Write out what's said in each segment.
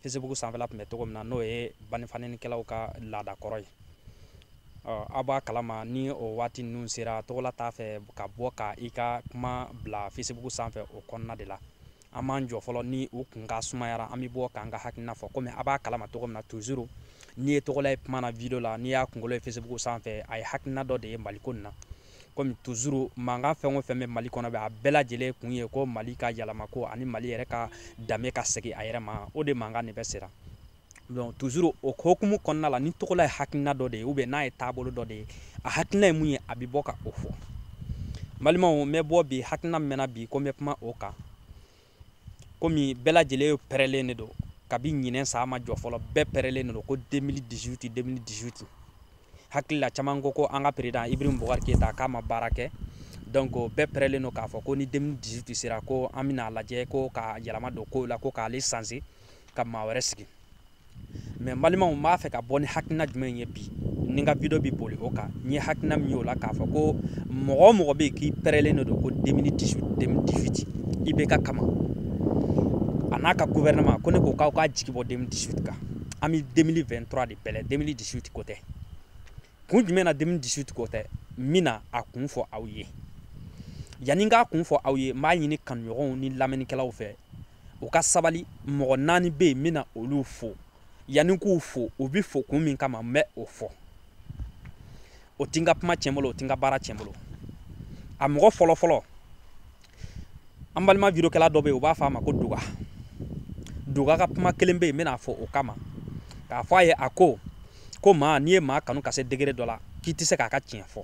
fesibugu sanfɛla tun bɛ cogo min na n'o ye banifanenikɛlaw ka laadakɔrɔ ye aw b'a kalama ni o waati ninnu sera togola t'a fɛ ka bɔ ka i ka kuma bila fesibugu sanfɛ o kɔnɔna de la an b'an jɔ fɔlɔ ni u kun ka sumayara an bɛ bɔ k'an ka hakilina fɔ komi a b'a kalama cogo min na toujours n'i ye togola ye kuma na video la n'i y'a kunkolo ye fesibugu sanfɛ a ye hakilina dɔ de ye maliko nin na komi toujours mankan fɛn o fɛn bɛ mali kɔnɔ bɛ a bɛɛ lajɛlen kun ye ko mali ka yɛlɛmako ani mali yɛrɛ ka danbe ka segin a yɛrɛ ma o de mankan de bɛ sera donc toujours o hokumu kɔnɔna la ni togola ye hakilina dɔ de ye ubiyɛn n'a ye taabolo dɔ de ye a hakilina ye mun ye a bɛ bɔ ka o fɔ balimaw n bɛ bɔ bi hakilina min na bi ko n bɛ kuma o kan komi bɛɛ lajɛlen pɛrɛlen de don kabi ɲinɛ san ma jɔ fɔlɔ bɛɛ pɛrɛlen de don ko 2018 2018 hakili la caman ko ko an ka peresidan ibrahim bubakari keyita k'a ma baara kɛ donc bɛɛ pɛrɛlen don k'a fɔ ko ni 2018 sera ko an bɛna a lajɛ ko ka yɛlɛma don kow la ko k'ale sanse ka maa wɛrɛ sigi mɛ balimaw n b'a fɛ ka bɔ ni hakilina jumɛn ye bi ni n ka video bi boli o kan n ye hakilina min y'o la k'a fɔ ko mɔgɔ o mɔgɔ bɛ yen k'i pɛrɛlen de don ko 2018 ibeka kama a n'a ka gouvernement ko ne ko k'aw k'aw jigi bɔ 2018 kan an bɛ 2023 de bɛlɛn 2018 ko tɛ kun jumɛn na 2018 ko tɛ n bɛna a kun fɔ aw ye yanni n k'a kun fɔ aw ye n b'a ɲini kanuɲɔgɔnw ni lamɛnnikɛlaw fɛ u ka sabali mɔgɔ naani bɛ yen n bɛna olu fo yanni n k'u fo u bɛ fo kun min kama n bɛ o fɔ o ti n ka kuma tiɲɛ n bolo o ti n ka baara tiɲɛ n bolo a mɔgɔ fɔlɔfɔlɔ an balima videokɛla dɔ bɛ yen u b'a fɔ a ma ko duga duga ka kuma kelen bɛ yen n bɛna a fo o kama k'a fɔ a ye a ko ko maa n'i ye maa kanu ka se degere dɔ la k'i tɛ se k'a ka tiɲɛ fɔ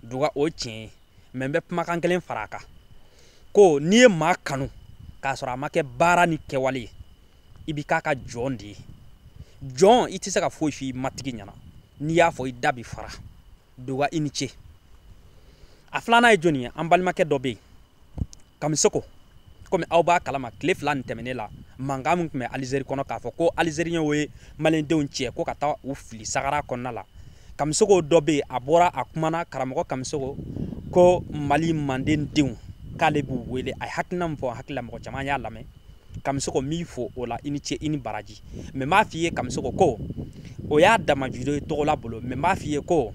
duga o ye tiɲɛ ye mɛ n bɛ kumakan kelen fara a kan ko n'i ye maa kanu k'a sɔrɔ a ma kɛ baara ni kɛwale ye i bi k'a ka jɔn de ye jɔn i tɛ se ka foyi f'i matigi ɲɛna n'i y'a fɔ i da bi fara duga i ni ce a filanan ye jɔni ye an balimakɛ dɔ bɛ yen kamisoko komi aw b'a kalama tile fila nin tɛmɛnen la mankan min tun bɛ alizeri kɔnɔ k'a fɔ ko alizeriyɛnw ye maliyɛndenw cɛ ko ka taa u fili sahara kɔnɔna la kamisoko dɔ bɛ yen a bɔra a kumana karamɔgɔ kamisoko ko mali manden denw k'ale b'u wele a ye hakilina min fɔ hakili la mɔgɔ caman y'a lamɛn kamisoko n b'i fo o la i ni ce i ni baraji mɛ n b'a f'i ye kamisoko ko o y'a dama video ye togola bolo mɛ n b'a f'i ye ko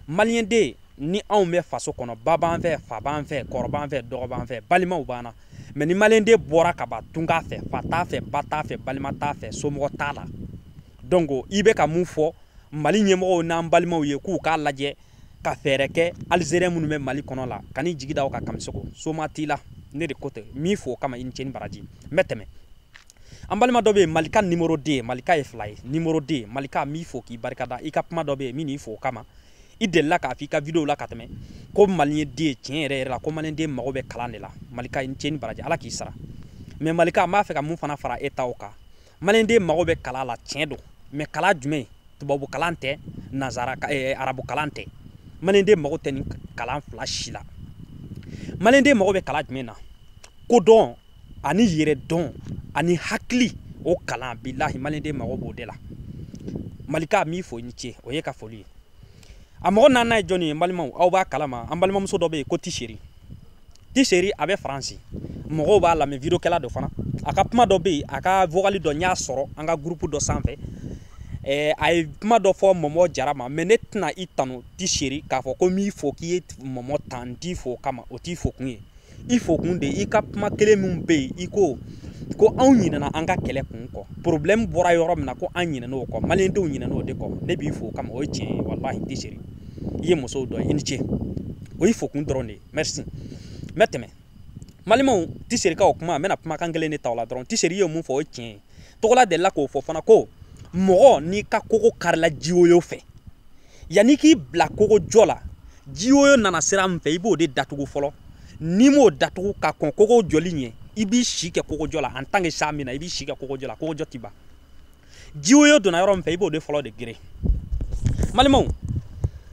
maliyɛnden ni anw bɛ faso kɔnɔ ba b'an fɛ fa b'an fɛ kɔrɔ b'an fɛ dɔgɔ b'an fɛ balimaw b'an na mɛ ni maliyɛnden bɔra ka ban tunga fɛ fa t'a fɛ ba t'a fɛ balima t'a fɛ somɔgɔ t'a la donc i bɛ ka mun fɔ mali ɲɛmɔgɔw n'an balimaw ye k'u k'a lajɛ ka fɛɛrɛ kɛ alizeriyɛn minnu bɛ mali kɔnɔ la kan'i jigi da o kan kamisoko soma t'i la ne de ko tɛ n b'i fo o kama i ni ce ni baraji n bɛ tɛmɛ an balima dɔ bɛ yen malika numéro deux malika ye fila ye numéro deux malika n b'i fo k'i barikada i ka kuma dɔ bɛ yen n b'i fo o kama i delila k'a fɔ i ka video la ka tɛmɛ ko maliyɛnden tiɲɛ yɛrɛ yɛrɛ la ko maliyɛnden mago bɛ kalan de la malika i ni ce ni baraji ala k'i sara mais malika n b'a fɛ ka mun fana fara e ta o kan maliyɛnden mago bɛ kalan la tiɲɛ don mais kalan jumɛn tubabu kalan tɛ nazara eh, arabu kalan tɛ maliyɛnden mago tɛ nin kalan fila si la maliyɛnden mago bɛ kalan jumɛn na kodɔn ani yɛrɛdɔn ani hakili o kalan bilahi maliyɛnden mago b'o de la malika n b'i fo i ni ce o y'i ka foli ye a mɔgɔ naaninan ye jɔni ye n balimaw aw b'a kalama an balimamuso dɔ bɛ yen ko tiseri tiseri a bɛ faransi mɔgɔw b'a lamɛn videokɛla dɔ fana a ka kuma dɔ bɛ yen a ka vokali dɔ n y'a sɔrɔ an ka gurupu dɔ sanfɛ eh, a ye kuma dɔ fɔ mɔmɔ jara ma mais ne tɛna i tanu tiseri k'a fɔ ko n b'i fo k'i ye mɔmɔ tan n t'i fo o kama o t'i fo kun ye i fo kun de i ka kuma kelen min bɛ yen i ko ko anw ɲinɛna an ka kɛlɛ kun kɔ problème bɔra yɔrɔ min na ko an ɲinɛna o kɔ maliyɛndenw ɲinɛna o de kɔ ne b'i fo o kama o ye tiɲɛ ye walahi tiseri i ye musow dɔ ye i ni ce o y'i fo kun dɔrɔn de ye merci n bɛ tɛmɛ n balimaw tiseri ka o kuma n bɛna kumakan kelen de ta o la dɔrɔn tiseri ye mun fɔ o ye tiɲɛ ye togola delila k'o fɔ fana ko mɔgɔ n'i ka kogo karila jiwoyo fɛ yanni k'i bila kogo jɔ la jiwoyo nana sira min fɛ i b'o de datugu fɔlɔ n'i m'o datugu ka kɔn kogo jɔli ɲɛ i b'i si kɛ kogojɔ la en tant que san bi na i b'i si kɛ kogojɔ la kogojɔ ti ban jiwoyo donna yɔrɔ min fɛ i b'o de fɔlɔ de geren n balimaw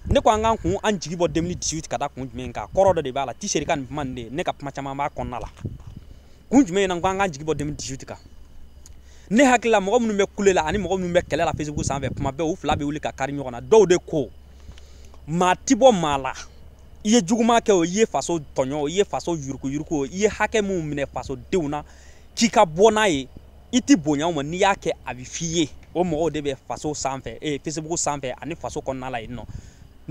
ne ko an k'an kun an jigi bɔ 2018 ka da kun jumɛn kan kɔrɔ dɔ de b'a la tiseri ka nin kuma nin de ne ka kuma caman b'a kɔnɔna la kun jumɛn na ko an k'an jigi bɔ 2018 kan ne hakili la mɔgɔ minnu bɛ kule la ani mɔgɔ minnu bɛ kɛlɛ la facebook sanfɛ kuma bɛɛ u fila bɛ wuli ka kari ɲɔgɔn na dɔw de ko maa ti bɔ maa la i ye juguman kɛ o i ye faso tɔɲɔ o i ye faso yurukuyuruku o i ye hakɛ minnu minɛ fasodenw na k'i ka bɔ n'a ye i ti bonya o ma n'i y'a kɛ a bɛ f'i ye o mɔgɔw de bɛ faso sanfɛ ee facebook sanfɛ ani faso kɔnɔna la yen nɔ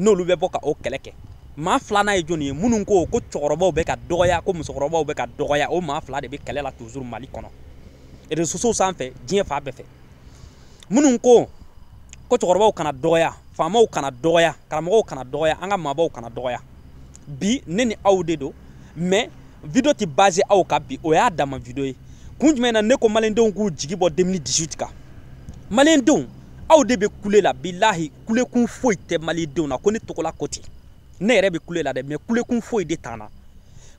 n'olu bɛ bɔ ka o kɛlɛ kɛ maa filanan ye jɔnni ye minnu ko ko cɛkɔrɔbaw bɛ ka dɔgɔya ko musokɔrɔbaw bɛ ka dɔgɔya o maa fila de bɛ kɛlɛ la toujours mali kɔnɔ réseaux sociaux sanfɛ diɲɛ fan bɛɛ fɛ minnu ko ko cɛkɔrɔbaw kana dɔgɔya faamaw kana dɔgɔya karamɔgɔw kana dɔgɔya an ka maabaw kana dɔgɔya bi ne ni aw de don mais video tɛ basé aw kan bi o y'a dama video ye kun jumɛn na ne ko maliyɛndenw k'u jigi bɔ 2018 kan maliyɛndenw aw de bɛ kule la bilahi kulekun foyi tɛ malidenw na ko ne togola ko ten ne yɛrɛ bɛ kule la dɛ mais kulekun foyi de t'an na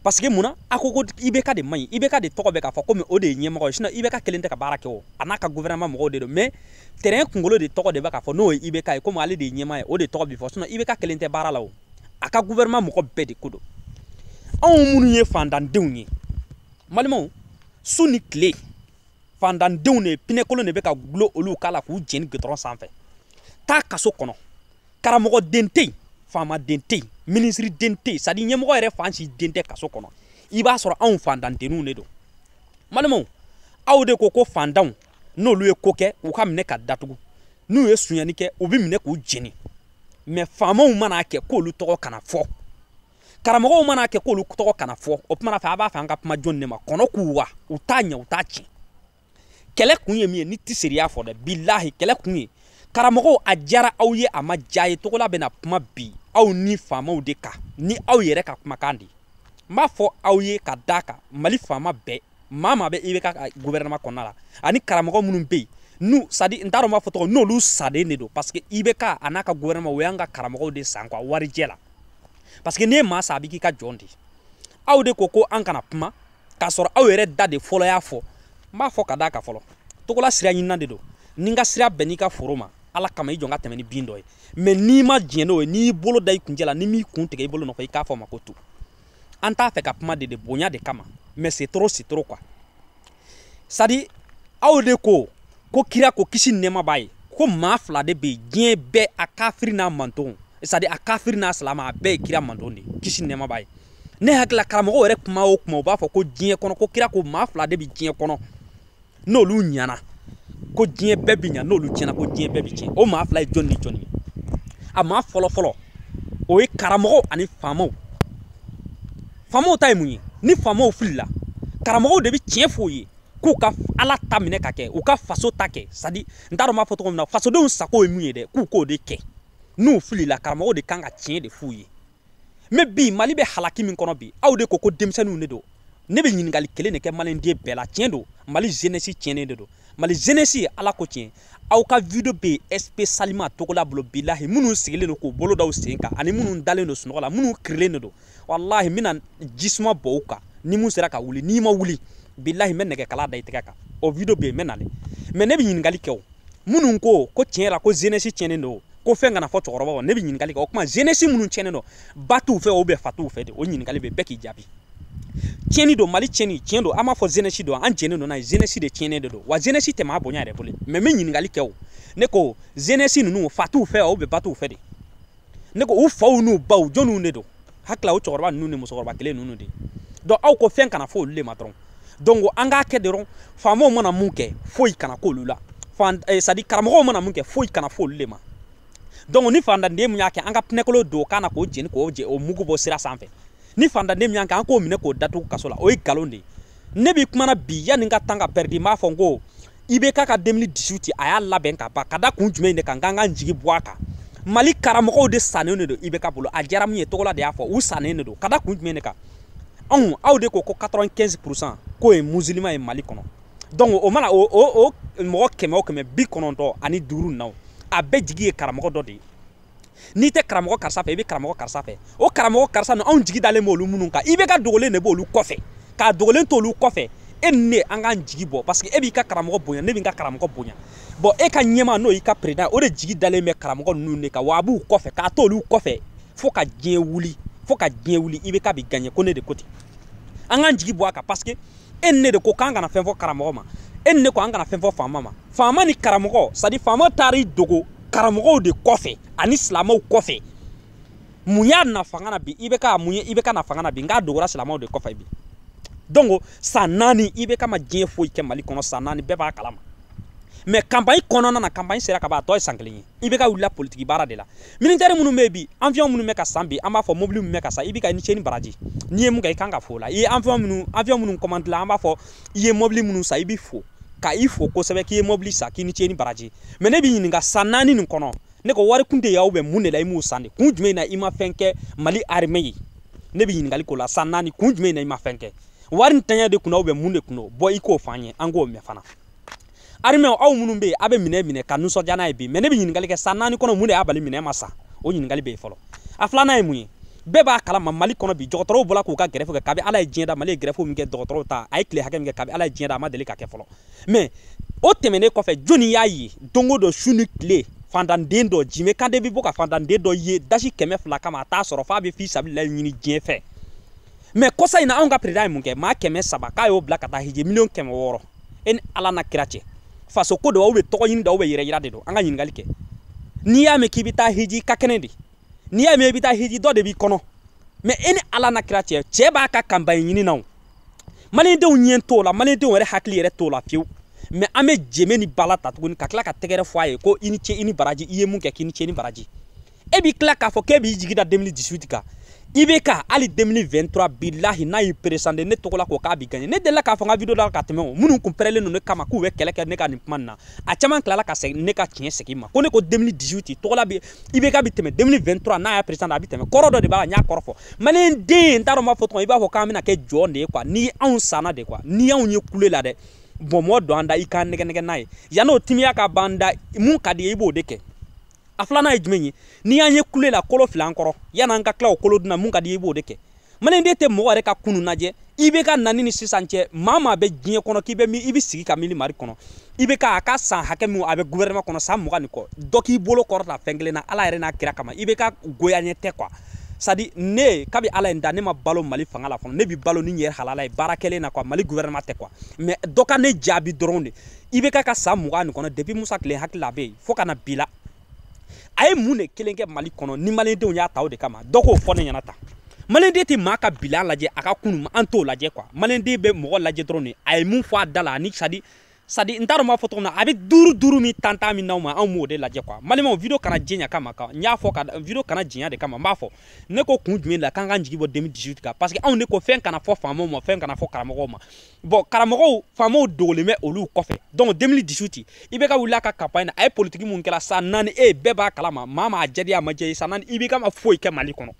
parce que mun na a ko ko IBK de man ɲi IBK de tɔgɔ bɛ k'a fɔ komi o de ye ɲɛmɔgɔ ye sinon IBK kelen tɛ ka baara kɛ o a n'a ka gouvernement mɔgɔw de don mais train kunkolo de tɔgɔ de bɛ k'a fɔ n'o ye IBK ye komi ale de ye ɲɛmaa ye o de tɔgɔ bɛ fɔ sinon IBK kelen tɛ baara la o a ka gouvernement mɔgɔ bɛɛ de ko don anw minnu ye fantandenw ye n balimaw su ni tile fantandenw de pinɛkolon de bɛ ka gulon olu kan la k'u jeni gudɔrɔn sanfɛ taa kaso kɔnɔ karamɔgɔden tɛ yen faamaden tɛ yen minisiriden tɛ yen c'est-à-dire ɲɛmɔgɔ yɛrɛ fan si den tɛ kaso kɔnɔ i b'a sɔrɔ anw fantandenw de don n balimaw aw de ko ko fantanw n'olu ye ko kɛ u ka minɛ ka datugu n'u ye sonyani kɛ u bɛ minɛ k'u jeni mais faamaw mana kɛ k'olu tɔgɔ kana fɔ karamɔgɔw mana kɛ k'olu tɔgɔ kana fɔ o tuma na fɛ a b'a fɛ an ka kuma jɔni de ma kɔnɔ k'u wa u t'a ɲɛ u t'a tiɲɛ kɛlɛ kun ye min ye ni tɛ seriya fɔ dɛ bilahi kɛlɛ kun ye karamɔgɔw a diyara aw ye a ma diya aw ye togola bɛna kuma bi aw ni faamaw de kan ni aw yɛrɛ ka kumakan de ye n b'a fɔ aw ye ka d'a kan mali faama bɛɛ maa maa bɛ IBK ka gouvernement kɔnɔna la ani karamɔgɔ minnu bɛ yen n'u c'est-à-dire n t'a dɔn n b'a fɔ cogo n'olu sannen de don parce que IBK a n'a ka gouvernement o y'an ka karamɔgɔw de san quoi warijɛ la parce que n'i ye maa san a bɛ k'i ka jɔn de aw de ko ko an kana kuma k'a sɔrɔ aw yɛrɛ da de fɔlɔ y'a fɔ n b'a fɔ ka d'a kan fɔlɔ togola sira ɲinina de don ni n ka sira bɛnn'i ka foro ma ala kama i jɔ n ka tɛmɛ ni bin dɔ ye mais n'i ma diɲɛ n'o ye n'i y'i bolo da i kuncɛ la ni n m'i kun tigɛ i bolo nɔfɛ i k'a fɔ n ma ko tu an t'a fɛ ka kuma de de bonya de kama mais c'est trop c'est trop quoi c'est-à-dire aw de ko ko kira ko kisi nɛɛma b'a ye ko maa fila de bɛ diɲɛ bɛɛ a kafiri n'a mantonw c'est-à-dire a kafiri n'a silama a bɛɛ ye kira manton de kisi nɛɛma b'a ye ne hakili la karamɔgɔw yɛrɛ kuma o kuma u b'a fɔ ko diɲɛ kɔnɔ ko kira ko maa fila de bɛ diɲɛ kɔnɔ n'olu ɲana ko diɲɛ bɛɛ bɛ ɲa n'olu tiɲɛna ko diɲɛ bɛɛ bɛ tiɲɛ o maa fila ye jɔni ni jɔni ye a maa fɔlɔ fɔlɔ o ye karamɔgɔw ani faamaw faamaw ta ye mun ye ni faamaw filila karamɔgɔw de bɛ tiɲɛ f'u ye k'u ka ala ta minɛ ka kɛ u ka faso ta kɛ c'est-à-dire n t'a dɔn n b'a fɔ cogo min na fasodenw sago ye mun ye dɛ k'u k'o de kɛ n'u filila karamɔgɔw de kan ka tiɲɛ de f'u ye mais bi mali bɛ halaki min kɔnɔ bi aw de ko ko denmisɛnninw de don ne bɛ ɲininkali kelen de kɛ maliden bɛɛ la tiɲɛ don mali jeunesse tiɲɛnen de don mali jeunesse ala ko tiɲɛ aw ka video bɛ spécialement togola bolo bilahi minnu sigilen don k'u bolo da u sen kan ani minnu dalen don sunɔgɔ la minnu kirilen de don walahi n bɛna ji suma bɔ u kan ni min sera ka wuli n'i ma wuli bilahi n bɛ nɛgɛkala da i tɛgɛ kan o video bɛ yen n bɛ nale mais ne bɛ ɲininkali kɛ o minnu ko ko tiɲɛ la ko zenesi tiɲɛnen don ko fɛn kana fɔ cɛkɔrɔba ma ne bɛ ɲininkali kɛ o tuma zenesi minnu tiɲɛnen don ba t'u fɛ ou bien fa t'u fɛ de o ɲininkali bɛ bɛɛ k'i jaabi tiɲɛni don mali tiɲɛni tiɲɛ don an b'a fɔ zenesi don an jɛnnen don n'a ye zenesi de tiɲɛnen de don wa zenesi tɛ maa bonya yɛrɛ bolo mɛ n bɛ ɲininkali kɛ o ne ko zenesi ninnu fa t'u fɛ ou bien ba t'u fɛ de ne ko u faw n'u baw jɔniw de don hakili la o cɛkɔrɔba ninnu ni musokɔrɔba kelen ninnu de don aw ko fɛn kana fɔ olu de ma dɔrɔn donc an k'a kɛ dɔrɔn faamaw mana mun kɛ foyi kana k'olu la eh, sadi karamɔgɔw mana mun kɛ foyi kana fɔ olu de ma donc ni fantanden mun y'a kɛ an ka pinɛkolo don o kan na k'o jeni k'o je o mugu bɔ sira sanfɛ ni fantanden mun y'a kɛ an k'o minɛ k'o datugu kaso la o ye nkalon de ye ne bɛ kuma na bi yanni n ka tan ka pɛridi n b'a fɔ n ko ibk ka demili disiwiti a y'a labɛn ka ban ka da kun jumɛn de kan k'an k'an jigi bɔ a kan mali karamɔgɔw de sannen de don ibk bolo a diyara min ye togola de y'a fɔ u sannen de don ka da kun jumɛn de kan anw aw de ko ko 95 pourcent k'o ye musilima ye mali kɔnɔ donc o mana o o o mɔgɔ kɛmɛ o kɛmɛ bi kɔnɔntɔn ani duuru naw a bɛɛ jigi ye karamɔgɔ dɔ de ye n'i tɛ karamɔgɔ karisa fɛ i bɛ karamɔgɔ karisa fɛ o karamɔgɔ karisa ninnu anw jigi dalen b'olu minnu kan ibk dogolen de b'olu kɔfɛ k'a dogolen t'olu kɔfɛ e ni ne an k'an jigi bɔ parce que e b'i ka karamɔgɔ bonya ne b'i ka karamɔgɔ bonya bon e ka ɲɛmaa n'o y'i ka peresidan o de jigi dalen bɛ karamɔgɔ ninnu de kan wa a b'u kɔfɛ k'a t'olu kɔfɛ fo ka diɲɛ wuli fo ka diɲɛ wuli ibk bɛ gaɲɛ ko ne de ko ten an k'an jigi bɔ a kan parce que e ni ne de ko k'an kana fɛn fɔ karamɔgɔ ma e ni ne ko an kana fɛn fɔ faama ma faama ni karamɔgɔ sadi faama taara i dogo karamɔgɔw de kɔfɛ ani silamɛw kɔfɛ mun y'a na fanga na bi ibk mun ye ibk na fanga na bi n k'a dogora silamɛw de kɔfɛ bi donc san naani ibk ma diɲɛ foyi kɛ mali kɔnɔ san naani bɛɛ b'a kalama mɛ kanpaɲi kɔnɔna na kanpaɲi sera ka ban a tɔ ye san kelen ye ibk wulila politiki baara de la militɛri minnu bɛ bi awiyɔn minnu bɛ ka san bi an b'a fɔ mobili minnu bɛ ka san ibk i ni ce i ni baraji n'i ye mun kɛ i kan ka fo o la i ye awiyɔn minnu awiyɔn minnu kɔmandila an b'a fɔ i ye mobili minnu san i bɛ fo ka i fo kosɛbɛ k'i ye mobili san k'i ni ce i ni baraji mɛ ne b'i ɲininka san naani nin kɔnɔ ne ko wari kun tɛ y'aw bɛ mun de la i m'u san de kun jumɛn na i ma fɛn kɛ mali arime ye ne bɛ ɲininkali k'o la san naani kun jumɛn na i ma fɛn kɛ wari ntanya de kunna aw bɛ mun de kunna bɔ i k'o fɔ an ye an k'o mɛn fana arimɛw aw minnu bɛ yen a bɛ minɛ minɛ ka nisɔndiya n'a ye bi mɛ ne bɛ ɲininkali kɛ san naani kɔnɔ mun de y'a bali minɛn ma san o ɲininkali bɛ yen fɔlɔ a filanan ye mun ye bɛɛ b'a kalama mali kɔnɔ bi dɔgɔtɔrɔw bɔra k'u ka gɛrɛfu kɛ kabi ala ye diɲɛ da mali ye gɛrɛfu min kɛ dɔgɔtɔrɔw ta a ye tile hakɛ min kɛ kabi ala ye diɲɛ da a ma deli ka kɛ fɔlɔ mɛ o tɛmɛnen kɔfɛ jɔnni y'a ye don o don su ni tile fantanden dɔ jime kante bɛ bɔ ka fantanden dɔ ye dasi kɛmɛ fila kama a t'a sɔrɔ f'a bɛ fi sabililahi ɲini diɲɛ fɛ mɛ kɔsa in na anw ka peresidan ye mun kɛ maa kɛmɛ saba k'a y'o bila ka taa hiji miliyɔn kɛmɛ wɔɔrɔ e ni ala na kira cɛ faso ko don aw bɛ tɔgɔ ɲini da aw bɛ yɛrɛ yira de don an ka ɲininkali kɛ n'i y'a mɛn k'i bɛ taa hiji ka kɛnɛ de n'i y'a mɛn i bɛ taa hiji dɔ de b'i kɔnɔ mais e ni ala na kira cɛ cɛ b'a ka campagne ɲini na o malidenw ɲɛ t'o la malidenw yɛrɛ hakili yɛrɛ t'o la fewu mais an bɛ jeme ni bala ta tuguni ka tila ka tɛgɛrɛ fɔ a ye ko i ni ce i ni baraji i ye mun kɛ k'i ni ce ni baraji e b'i tila k'a fɔ k'e b'i jigi da 2018 kan IBK hali 2023 bilahi n'a y'i présenté ne togola ko k'a b'i gagné ne delila k'a fɔ n ka video la ka tɛmɛ o minnu kun pɛrɛlen don ne kama k'u bɛ kɛlɛ kɛ ne ka nin kuma nin na a caman tilala ka segin ne ka tiɲɛ segin ma ko ne ko 2018 togola IBK bi tɛmɛ 2023 n'a y'a présenté a bɛ tɛmɛ kɔrɔ dɔ de b'a la n y'a kɔrɔ fɔ maliyɛn den n t'a dɔn n b'a fɔ cogo i b'a fɔ k'an bɛna kɛ jɔn de ye quoi ni anw sanna de quoi ni anw ye kule la dɛ bɔnbɔn don an da i k'an nɛgɛnɛgɛ n'a ye yann'o timiya ka ban an da mun ka d'i ye i b'o de kɛ a filanan ye jumɛn ye n'i y'an ye kule la kolo fili an kɔrɔ yann'an ka tila o kolo dun na mun ka di i b'o de kɛ maliyɛnden tɛ mɔgɔ yɛrɛ ka kunu lajɛ IBK nani ni sisan cɛ maa maa bɛ diɲɛ kɔnɔ k'i bɛ min i bɛ sigi ka miiri mari kɔnɔ IBK a ka san hakɛ min a bɛ gouvernement kɔnɔ san mugan ni kɔ dɔ k'i bolo kɔrɔta fɛn kelen na ala yɛrɛ n'a kira kama IBK goya ɲɛ tɛ quoi c'est-à-dire ne kabi ala ye n da ne ma balo mali fanga la fɔlɔ ne bi balo ni n yɛrɛ halala ye baara kɛlen na quoi mali gouvernement tɛ quoi mais dɔ ka ne jaabi dɔrɔn de IBK ka san mugan nin kɔnɔ depuis musa tile hakili la a bɛ yen fo ka na bi la a ye mun de kelen kɛ mali kɔnɔ ni malidenw y'a ta o de kama dɔ k'o fɔ ne ɲɛna tan maliden tɛ maa ka bi lajɛ a ka kunu an t'o lajɛ quoi maliden bɛ mɔgɔ lajɛ dɔrɔn de a ye mun fɔ a da la ani c'est-à-dire c'est-à-dire n t'a dɔn n b'a fɔ cogo min na a bɛ duuru duuru min tantan min d'anw ma anw b'o de lajɛ quoi n balimaw video kana janya kama n y'a fɔ ka video kana janya de kama n b'a fɔ ne ko kun jumɛn la k'an k'an jigi bɔ 2018 kan parce que anw de ko fɛn kana fɔ faamaw ma fɛn kana fɔ karamɔgɔw ma bon karamɔgɔw faamaw dogolen bɛ olu kɔfɛ donc 2018 IBK wulila a ka campagne na a ye politiki mun kɛra san naani e eh, bɛɛ b'a kalama maa maa jɛdi a ma jɛ ye san naani IBK ma foyi kɛ mali kɔnɔ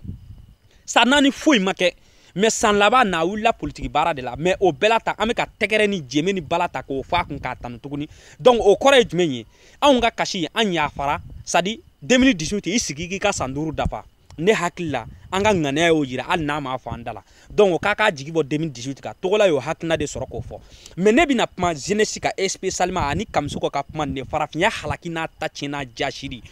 san naani foyi ma kɛ mais san laban na a wulila politiki baara de la mais o bɛɛ la ta an bɛ ka tɛgɛrɛ ni jeme ni bala ta k'o fɔ a kun k'a tanu tuguni donc o kɔrɔ ye jumɛn ye anw ka kasi an yafara c'est-à-dire 2018 i sigi k'i ka san duuru dafa ne hakili la an ka ŋaniya y'o yira hali n'a m'a fɔ an da la donc o k'an k'an jigi bɔ 2018 kan togola y'o hakilina de sɔrɔ k'o fɔ mais ne bɛna kuma jeunesse kan spécialement ani kamisoko ka kuma nin de farafinya halaki n'a ta tiɲɛ n'a jasiri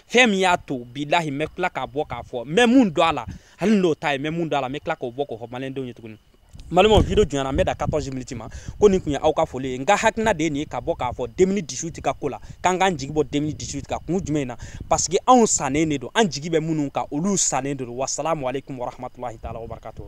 fɛn min y'a to bilahi n bɛ tila k'a bɔ k'a fɔ n bɛ mun dɔn a la hali n'o ta ye n bɛ mun dɔn a la n bɛ tila k'o bɔ k'o fɔ maliyɛndenw ye tuguni n balimaw video janyana n bɛ dan 14 miniti ma ko nin tun ye aw ka foli ye n ka hakilina de ye nin ye ka bɔ k'a fɔ 2018 ka ko la k'an k'an jigi bɔ 2018 kan kun jumɛn na parce que anw sannen de don an jigi bɛ minnu kan olu sannen de don wasalamu aleykum warahmatulahi taala wabarakatuh